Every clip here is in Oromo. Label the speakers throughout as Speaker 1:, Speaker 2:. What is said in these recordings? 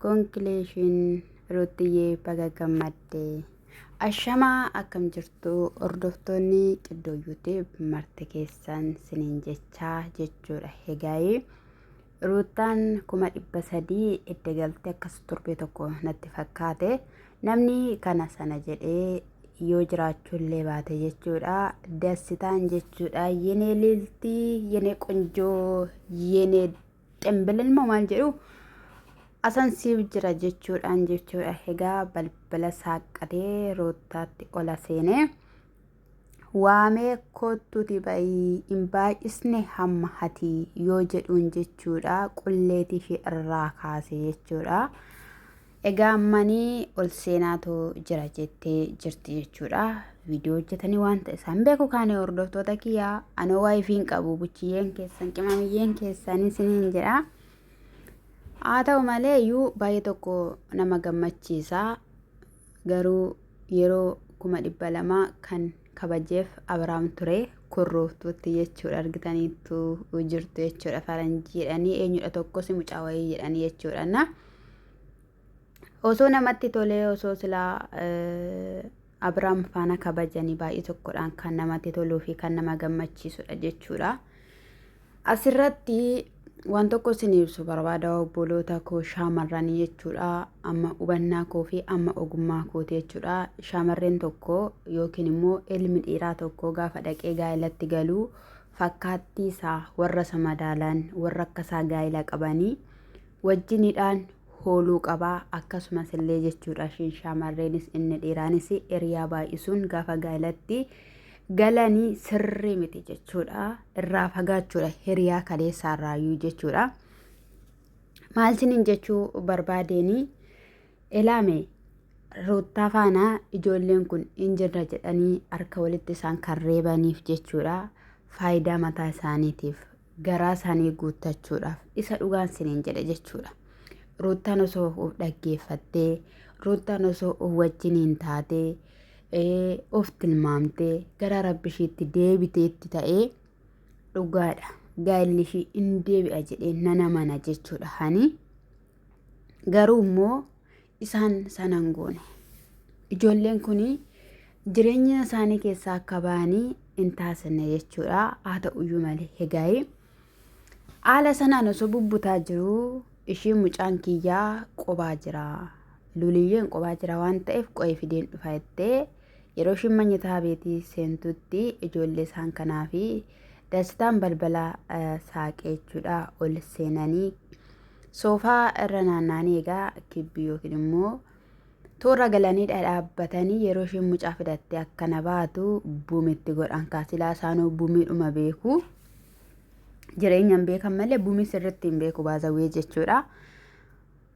Speaker 1: Congratulations Ruuttiyee baga gammadde. Ashamaa akkam jirtu hordoftoonni qiddoo yuutib marti keessan siniin jechaa jechuudha hegaayee ruuttaan kuma dhibba sadii edda galte akkas torbee tokko natti fakkaate namni kana sana jedhee yoo jiraachuullee baate jechuudha dassitaan jechuudha yenee liltii yenee qonjoo yenee Ximbilil moo maal jedhu asan siif jira jechuudhaan jechuudha egaa balbala saaqqatee roottaatti ola seenee waamee koottuuti ba'ii hin baay'isne hamma hati yoo jedhuun jechuudha qulleetii ishee irraa kaase jechuudha. Egaa ammani ol seenaatu jira jettee jirti jechuudha. Viidiyoo hojjetanii wanta isaan beeku kaane hordoftoota kiyyaa anoo waa ifiin qabu buchiyyeen keessan qimamiyyeen keessan isiniin jedha. Haa ta'u malee iyyuu baay'ee tokko nama gammachiisa. Garuu yeroo kuma dhibba lamaa kan kabajeef Abiraam ture kurruuftuutti jechuudha argitaniittu jirtu jechuudha faranjiidhani eenyudha tokkos mucaa wayii jedhani jechuudha. Osoo namatti tolee osoo silaa Abiraam faana kabajanii baay'ee tokkodhaan kan namatti toluu fi kan nama gammachiisudha jechuudha. Asirratti waan tokko isin ibsu barbaada obboloota koo shaamarranii jechuudha. Amma hubannaa koo fi amma ogummaa kooti jechuudha. Shaamarreen tokko yookiin immoo ilmi dhiiraa tokko gaafa dhaqee gaa'elatti galuu fakkaattii isaa warra isa madaalan warra akka isaa gaa'ela qabanii wajjinidhaan hooluu qaba. Akkasumas illee jechuudha ishiin shaamarreenis inni dhiiraanis hiriyaa baay'isuun gaafa gaa'ilatti galanii sirrii miti jechuudha. Irraa fagaachuudha hiriyaa kaleessaa irraayyuu jechuudha. Maal sinin jechuu barbaadeenii ilaame ruuttaa faanaa ijoolleen kun hin jirra jedhanii harka walitti isaan kan reebaniif jechuudha. Faayidaa mataa isaaniitiif garaa isaanii guuttachuudhaaf isa dhugaan siniin jedhe jechuudha. Ruuttaan osoo of dhaggeeffattee, ruuttaan osoo of wajjiniin taatee, ee, of tilmaamtee gara rabbi ishiitti deebiteetti ta'ee dhugaadha. Gaa'illi ishii in deebi'a jedhee nana mana jechuudha hani. Garuu immoo isaan sana hin goone. Ijoolleen kun jireenya isaanii keessaa akka ba'anii hin taasifne jechuudha. Haa ta'uyyuu malee egaa'ee haala sanaan osoo bubbutaa jiru ishii mucaan kiyyaa qobaa jira. Luliyyeen qobaa jira waan ta'eef qo'ee fideen dhufa jettee yeroo ishiin manyataa beetii seentutti ijoollee isaan kanaa fi dastaan balbala saaqee jechuudha ol seenanii Soofaa irra naanna'anii egaa kibbi yookiin immoo toora galanii dhadhaabbatanii yeroo isheen mucaa fidattee akkana baatu bumitti godhan kaasilaa isaanuu bumiidhuma beeku. Jireenya hin beekan malee bumii sirriitti hin beeku baazawwee jechuudha.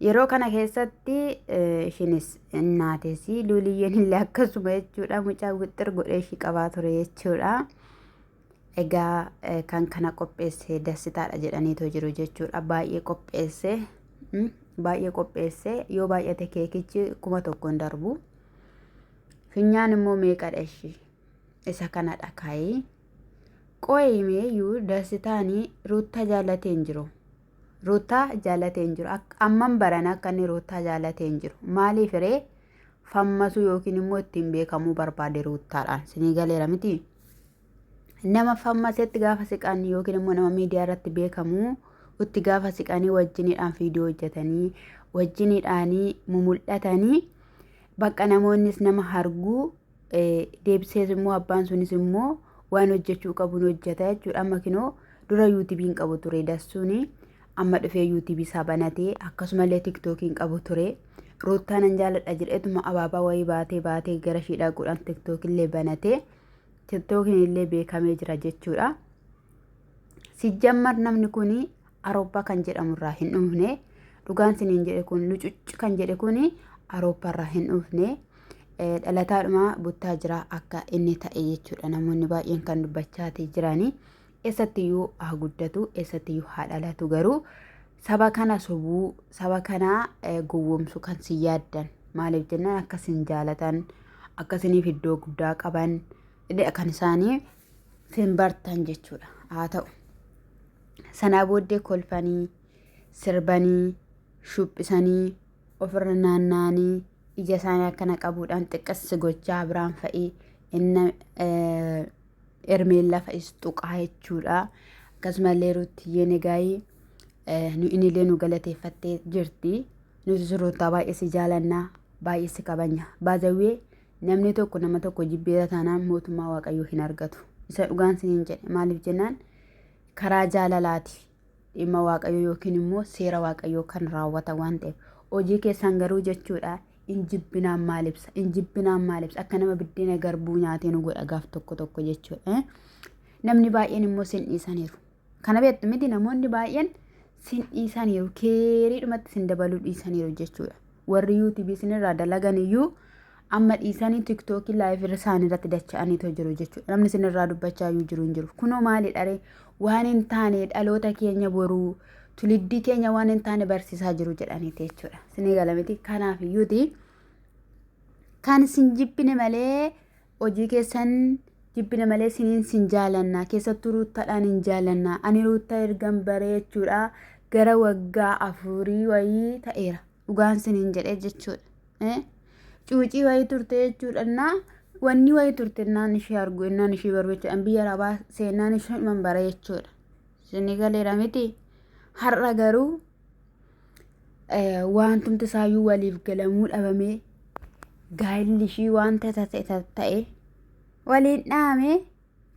Speaker 1: Yeroo kana keessatti ishinis naates luuliyyeen illee akkasuma jechuudha mucaa wixxir godhee ishii qabaa ture jechuudha. Egaa kan kana qopheesse dassitaadha jedhaniitoo jiru jechuudha. Baay'ee qopheesse. Baay'ee qopheesse. Yoo baay'ate keekichi kuma tokko hin darbu. Finyaan immoo meeqadha ishii? Isa kanadha kaayee. Qo'imeeyyuu dassitaanii ruuttaa jaallatee hin jiru. Ruuttaa jaallatee hin jiru. Amman barana akka inni ruuttaa jaallatee hin jiru. Maaliif ree? fammasuu yookiin immoo ittiin beekamuu barbaade ruuttaadhaan sinii galeera miti nama fammasetti gaafa siqan yookiin immoo nama miidiyaa irratti beekamu itti gaafa siqanii wajjiniidhaan viidiyoo hojjetanii wajjiniidhaanii mumul'atanii bakka namoonnis nama harguu deebisees immoo abbaan sunis immoo waan hojjechuu qabuun hojjeta jechuudha. Amma kinoo dura yuutubiin qabu ture dassuuni amma dhufee yuutubii isaa banatee akkasumallee tiktookiin qabu ture. Ruuttaa nan jaaladha jedheetuma abaabaa wayii baatee baatee gara ishii dhaquudhaan tiktookillee banatee tiktookiin illee beekamee jira jechuudha. Sijjammar namni kun Arooppaa kan jedhamu irraa hin dhufne. Dhugaan siniin jedhe kun lucucc kan jedhe kun Arooppaa irraa hin dhufne. Eh, Dhalataadhuma buttaa jira akka inni ta'e jechuudha namoonni baay'een kan dubbachaati jirani. Eessattiyyuu haa guddatu, eessattiyyuu haa dhalatu garuu saba kana sobuu, saba kana eh, gowwoomsu kan si yaaddan. Maaliif jennaan akka sin jaalatan, akka siniif iddoo guddaa qaban, kan isaanii sin bartan jechuudha. Haa ta'u. Sanaa booddee kolfanii, sirbanii, shuphisanii, ofirra naanna'anii ija isaanii akkana qabuudhaan xiqqas gochaa biraan fa'i inna ermeen lafa is tuqaa jechuudha. Akkasumallee ruuttiyyeen egaayii nu inillee nu galateeffattee jirti. Nutis ruuttaa baay'ee si jaalannaa baay'ee si kabanya. Baazawwee namni tokko nama tokko jibbeera taanaan mootummaa waaqayyoo hin argatu. Isa dhugaan siniin jedhe maaliif jennaan karaa jaalalaati dhimma waaqayyoo yookiin immoo seera waaqayyoo kan raawwatan waan ta'eef hojii keessan garuu jechuudha injibbinaan maal ibsa injibbinaan maal ibsa akka nama biddeena garbuu nyaatee nu godha gaaf tokko tokko jechuudha namni baay'een immoo sin dhiisaniiru kana beektu miti namoonni baay'een sin dhiisaniiru keeriidhumatti sin dabaluu dhiisaniiru jechuudha warri yuutubii sinirraa dalagan iyyuu Amma dhiisanii tiktookii live irra isaan irratti dacha'aniitoo jiru jechuudha. Namni isin irraa dubbachaa iyyuu jiru hin jiru. Kunoo maali dharee waan hin taane dhaloota keenya boruu tuliddii keenya waan hin taane barsiisaa jiru jedhaniiti jechuudha. Isinii galamiti kanaaf iyyuuti kan isin jibbine malee hojii keessan jibbine malee isiniin sin jaalannaa keessattuu ruuttaadhaan hin jaalannaa ani ruuttaa ergan baree jechuudha gara waggaa afurii wayii ta'eera. dhugaan sinin jedhe jechuudha cuucii wayii turte jechuudha innaa wanni wayii turte innaan ishee argu innaan ishee baru jechuudha biyya arabaa seenaan ishee man bara jechuudha isinii galeera miti har'a garuu wantumti isaayyuu waliif galamuu dhabamee gaa'illi ishii wanta ta'e ta'e waliin dhaamee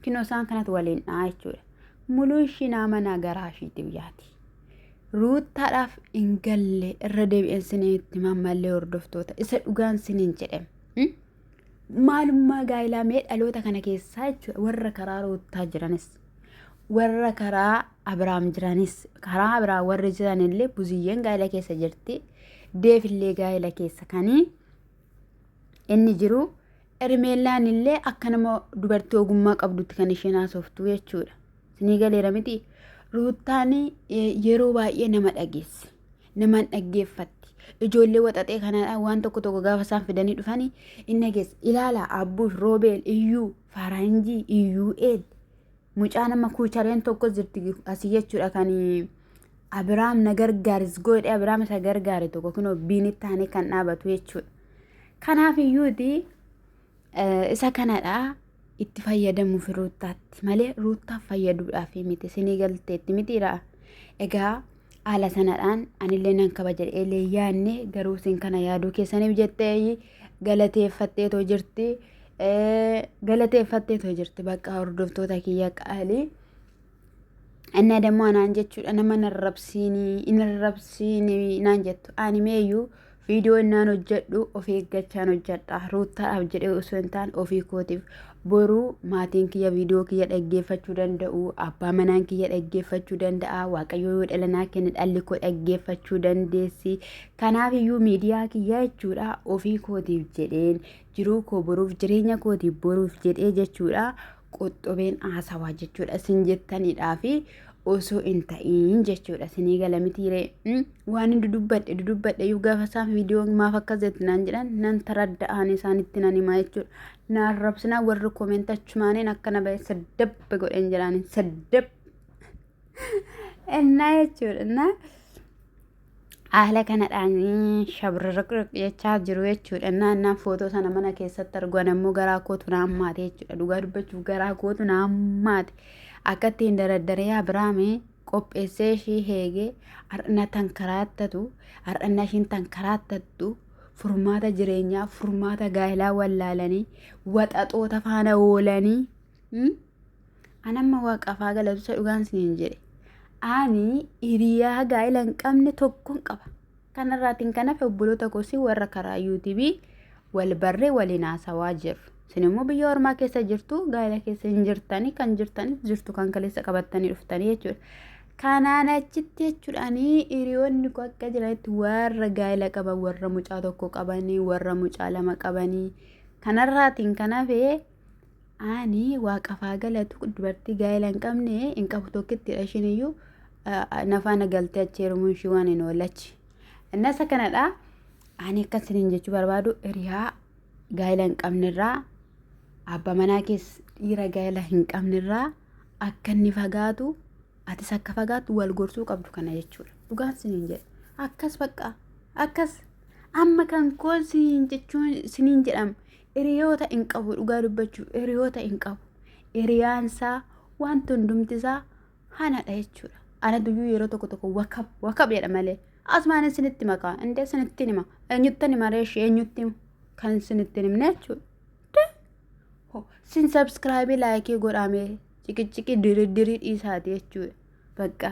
Speaker 1: Kinoo isaan kanatu waliin dha'a jechuudha. Muluu ishii nama nagaraa ishiitiif yaati. Ruuttaadhaaf hin galle irra deebi'een siniin itti mammallee hordoftoota isa dhugaan siniin jedhem. Maalummaa gaa'ilaa mee dhaloota kana keessaa jechuudha warra karaa ruuttaa jiranis warra karaa Abiraam jiranis karaa Abiraam warri jiranillee buziyyeen gaa'ila keessa jirti deefillee gaa'ila keessa kanii inni jiru Hermeellaan illee akka nama dubartii ogummaa qabdutti kan isheen haasoftu jechuudha. Sinii galeera miti. Ruuttaan yeroo baay'ee nama dhageessi. Namaan dhaggeeffatti. Ijoollee waxaxee kanaadhaan waan tokko tokko gaafa isaan fidanii dhufanii hin dhageessi. Ilaala Abbuush, Roobeel, Iyyuu, Faaraanjii, Iyyuu, Eel. Mucaa nama kuuchareen tokkos jirti asii jechuudha kan Abiraam na gargaaris goodhe Abiraam isa gargaare tokko kunoo biinitti aanee kan dhaabatu jechuudha. Kanaaf iyyuuti isa kanadha itti fayyadamuuf ruuttaatti malee ruuttaaf fayyaduudhaaf miti sinii galteetti mitiidha. Egaa haala sanadhaan anillee nan kabaja jedhee yaadne garuu isin kana yaaduu keessaniif jettee galateeffattee too jirti. Galateeffattee too jirti bakka hordoftoota kiyya qaalii. Annaa dammoo anaan jechuudha nama narrabsiini hin arrabsiini naan jettu ani meeyyuu viidiyoo innaan hojjedhu of eeggachaan hojjedha ruuttaadhaaf jedhee osoo hin taane ofii kootiif boruu maatiin kiyya viidiyoo kiyya dhaggeeffachuu danda'u abbaa manaan kiyya dhaggeeffachuu danda'a waaqayyoo yoo dhalanaa kenne dhalli koo dhaggeeffachuu dandeessi kanaaf iyyuu miidiyaa kiyya jechuudha ofii kootiif jedheen jiruu koo boruuf jireenya kootiif boruuf jedhee jechuudha Qoxxobeen haasawaa jechuudha isin jettaniidhaa fi osoo hin ta'iin jechuudha isinii gala mitiiree Mm, waan hin dudubbadhe dudubbadhe iyyuu gaafa isaan viidiyoo maaf akkas jetti naan jedhan nan taradda'aan isaanitti nan himaa jechuudha naan rabsinaa warri komeenta achumaaniin akkana ba'e saddabbe godheen jedhaaniin saddab ennaa jechuudha ennaa Haala kanadhaan shabrraqraq jechaa jiru jechuudha. Naannaan footoo sana mana keessatti argu an ammoo garaa kootu na hammaate jechuudha. Dhugaa dubbachuuf garaa kootu na hammaate. Akka ittiin daradarii Abiraamee qopheessee ishii heegee har'na tan karaattatu har'na ishiin tan karaattattu furmaata jireenyaa furmaata gaa'ilaa wallaalanii waxaxoota faana oolanii. An amma waaqaaf haa galatu isa dhugaan isiniin jedhe. Ani hiriyaa gaa'ela hin qabne tokkon qaba. Kanarraatiin kan hafe obboloota kosii warra karaa UTV wal barree waliin haasawaa jirru. Isin immoo biyya ormaa keessa jirtu gaa'ela keessa hin jirtanii kan jirtanis jirtu kan kaleessa qabattanii dhuftanii jechuudha. Kanaan achitti jechuudhaanii hiriyoonni koo akka jiranitti warra gaa'ela qaban warra mucaa tokko qabanii warra mucaa lama qabanii kanarraatiin kan hafe Ani waaqaf haa galatu dubartii gaa'ela hin qabne hin qabu tokkittidha ishiin iyyuu nafaana galtee achi heerumuun ishii waan hin oolachi. Innas akkanadha ani akkan isiniin jechuu barbaadu hiriyaa gaa'ela hin qabnerraa abba manaa kees dhiira gaa'ela hin qabnerraa akka inni fagaatu atis akka fagaatu wal gorsuu qabdu kana jechuudha. Dhugaan isiniin jedha akkas baqqaa akkas amma kan koo isiniin jechuun isiniin jedhama. Hiriyoota hin qabu dhugaa dubbachuuf hiriyoota hin qabu. Hiriyaansaa wanti hundumtisaa hanadha jechuudha. Ana duyyuu yeroo tokko tokko wakab wakab jedha malee. Asumaan isinitti makaa indee isinitti hima. Eenyuttan hima reeshi eenyutti hima kan isinitti himne jechuudha. Sin sabskraayibii laayikii godhaamee ciqiciqii diridirii dhiisaati jechuudha. Bakka.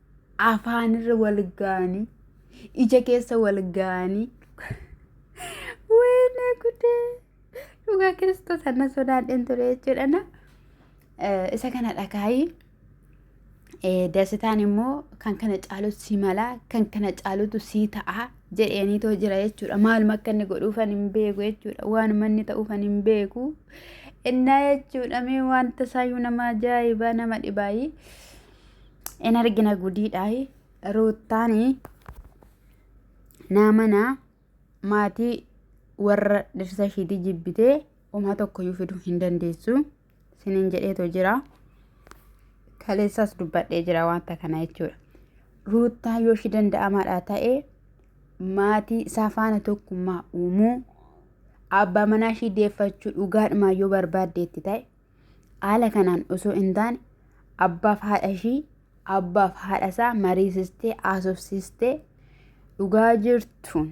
Speaker 1: afaanirra wal gaanii ija keessa wal gaanii wayne gudee dhugaa kiristoos anna sodaadheen ture jechuudha na isa kana dhagaayii dasitaan immoo kan kana caalu si mala kan kana caalutu sii ta'a jedheenii too jira jechuudha maaluma akka inni godhuufan hin beeku jechuudha waanuma inni ta'uufan hin beeku innaa jechuudha mee wanta isaayyuu nama ajaa'ibaa nama dhibaayii in argina gudiidhaayi ruuttaanii naamana maatii warra dhirsa ishiitii jibbitee umaa tokkoyyuu fiduu hin dandeessu sinin jedheetoo jira kaleessaas dubbadhee jira wanta kana jechuudha ruuttaa yoo ishii danda'amaadhaa ta'e maatii isaa faana tokkummaa uumuu abbaa manaa ishii deeffachuu dhugaadhumaa yoo barbaaddeetti ta'e Haala kanaan osoo hin taane abbaaf haadha ishii abbaaf haadha isaa mariisistee haasofsiistee dhugaa jirtuun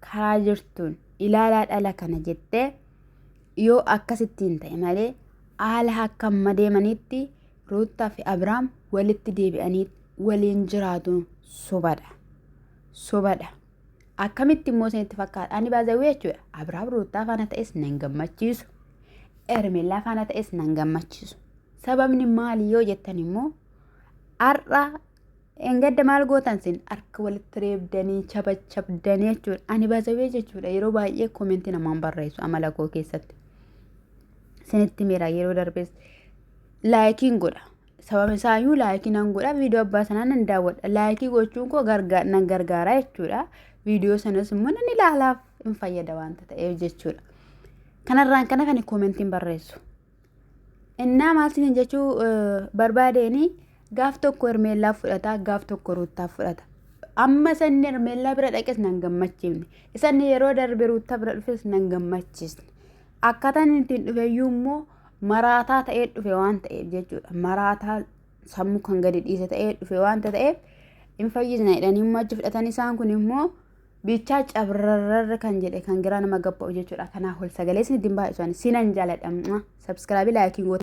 Speaker 1: karaa jirtuun ilaalaa dhala kana jettee yoo akkasittiin ta'e malee haala akka amma deemanitti Ruuttaa fi Abiraam walitti deebi'anii waliin jiraatuun sobadha. Sobadha. Akkamitti immoo isinitti fakkaata? Ani baazawwee jechuudha. Abiraam Ruuttaa faana ta'es nan gammachiisu. Ermellaa faana ta'es nan gammachiisu. Sababni maali yoo jettan immoo har'a engadda maal gootan sin harka walitti reebdanii chabachabdanii jechuudha. Ani baazawwee jechuudha yeroo baay'ee koomentii namaan barreessu amala koo keessatti. Sinitti miira yeroo darbees laayikiin godha. sababa isaayyuu laayikii nan godha viidiyoo abbaa sanaa nan daawwadha laayikii gochuun koo gargaa- nan gargaara jechuudha viidiyoo sanas immoo nan ilaalaaf hin fayyada waanta ta'eef jechuudha kanarraan kana kan koomentiin barreessu innaa maal siin jechuu eh, barbaadeeni gaaf tokko hermeellaa fudhata gaaf tokko ruuttaa fudhata amma sanni hermeellaa bira dhaqes nan gammachiifne isanni yeroo darbe ruuttaa bira dhufes nan gammachiisne akkaataan ittiin dhufeyyuu immoo maraataa ta'ee dhufe waan ta'eef jechuudha. Maraataa sammuu kan gadi dhiise ta'ee dhufe waan ta'eef hin fayyisna jedhanii immoo achi fudhatan isaan kun immoo bichaa cabrarra kan jedhe kan giraa nama gabba'u jechuudha. Kanaaf ol sagalees ni dimbaa isaanii sinan jaaladha. Sabskiraabii laayikiin goota.